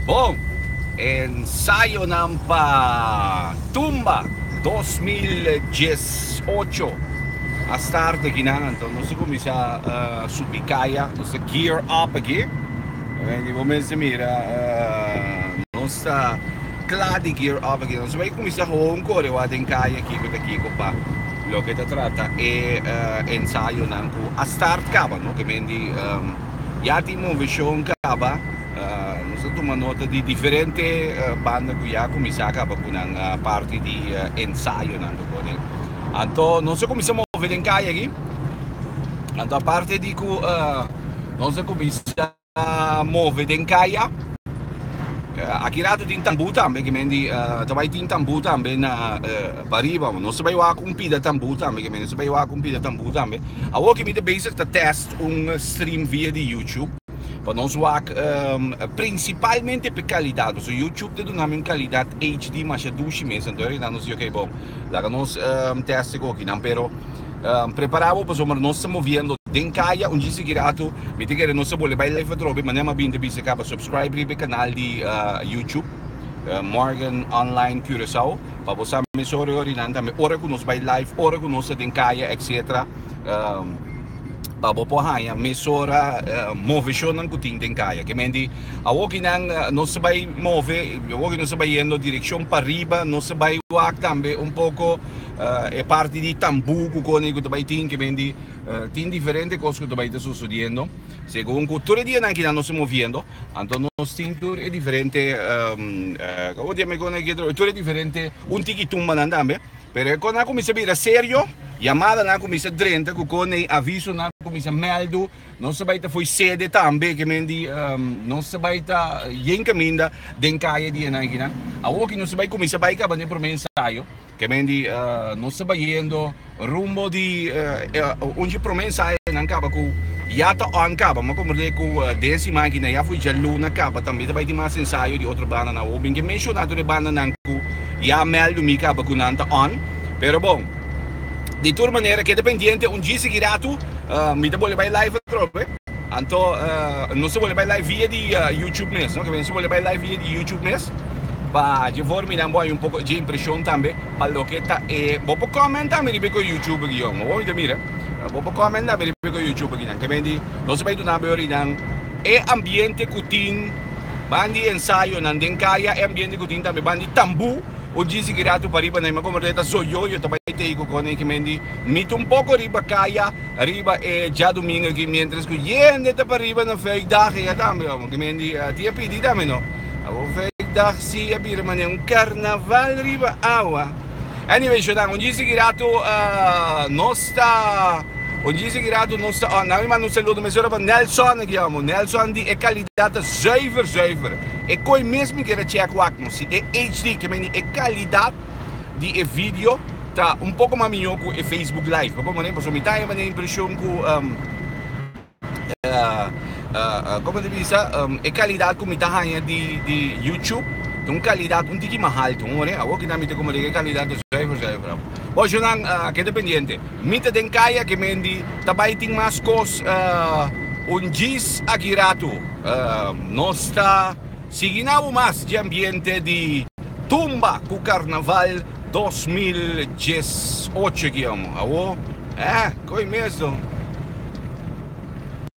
Bon, ensayonan pa Tumba dos mil dies ocho a start aki nan, anto nos ta kuminsá subi kaya, nos ta gear up aki. Y bo mester mira, nos ta kla di gear up aki, nos a bay kuminsá hawa un korewa den kaya kiko ta kiko pa loke ta trata e ensayonan ku a start kaba, no, ke men di. Ya tin move shownan kaba, nos a tuma nota di diferente banda ku ya kuminsá kaba ku nan parti di ensayonan lo kore. Anto nos a kuminsá move den kaya aki, anto aparte di ku nos a kuminsá move den kaya, aki rato tin tambú tambe, ke men di ta bai tin tambú tambe na pariba, nos ta bai wak un pida tambú tambe, ke men di nos ta bai wak un pida tambú tambe. Awor ke mi ta bezig ta tèst un stream via di YouTube pa nos wak principalmente p'e calidad pasobra YouTube ta duna mi un calidad HD masha dushi mes anto a reda nos di ok bon laga nos testa e goki nan pero prepara bo pasobra nos ta moviendo den caya un djis di kirato mi ta kere nos a bole bay live atrobe manera mi a bini ta bisa caba subscribe riba e canal di YouTube Morgan Online Curacao pa bo sa mesora e orinan tambe ora cu nos bay live ora cu nos ta den caya etc. pa bo por haña mesora moveshonan ku tin den kaya. Ke mende awor ke nan nos ta bai move, awor ke nos ta bai yendo direkshon pariba, nos ta bai wak tambe un poko e parti di tambu ku kone ku ta bai tin. Ke mende tin diferente kos ku ta bai ta sosodiendo. Segun ku tur e dianan ke nan nos ta moviendo, anto nos tin tur e diferente, awor dia mi kone tur e diferente un tiki tumbanan tambe. Pero e kosnan a kuminsá bira serio, yamadanan a kuminsá drenta ku kone i avisonan a kuminsá mèldu. Nos a bai ta fo'i sede tambe, ke men di, nos a bai ta yen kaminda den kaya di e naikinan. Awor aki nos a bai kuminsá bai kaba n'e promé ensayo, ke men di, nos a bayendo rumbo di undje promé ensayonan kaba ku ya ta òn kaba. Mi a komprendé ku den e siman aki na ya fo'i djaluna kaba tambe ta bai tin mas ensayo di otro bandanan. Awor, mi a bin ke menshoná tur e bandanan ku. Ya meldu mi caba cu nan ta on, pero bon, di tur manera keda pendiente un djis aki ratu mi ta bolbe bai live atrobe, anto nos ta bolbe bai live via di YouTube mes, no, nos ta bolbe bai live via di YouTube mes, pa dje for minan bo hay un poco dje impresion tambe pa loke ta e, bo por comment tambe riba e cu YouTube aki yom, owo mi ta mira, bo por comment tambe riba e cu YouTube aki nan, kemendi nos ta bai dunabo e orinan e ambiente cu tin. Ban di ensayonan den kaya e ambiente ku tin tambe ban di tambú o djisi ki ratu pariba na ima komo ruleta zoyoyo ta bai tei ku kòne i kimen di mit un poko riba kaya riba e djadumingu aki miéntras ku yende ta pariba na feikdag eya tambe amo kimen di tia pidi tambe no abo feikdag si a bira manera un karnaval riba awa. Anyway Shonan, un djis di kirato nos ta un djis di kirato nos ta nan mi manda un saludo mesora pa Nelson aki amo, Nelson di e kalidad ta zuiver zuiver e koe mes mi kere check wak no si e HD ke men di e kalidad di e video ta un poko mas mihó ku e Facebook live pasobra mi ta e impreshon ku. Como ta bisa e calidad cu mi ta haya di YouTube ta un calidad un tiki mas alto un ora awo kina mi ta como rica e calidad ta suey for suey bravo bo ashonan keda pendiente mi ta den cay aki mendi ta bay tin mas cos un djis aki rato nos ta. Siginau mas dje ambiente di tumba cu carnaval dos mil djes ocho aki amo. Awo eh! Coy mes do?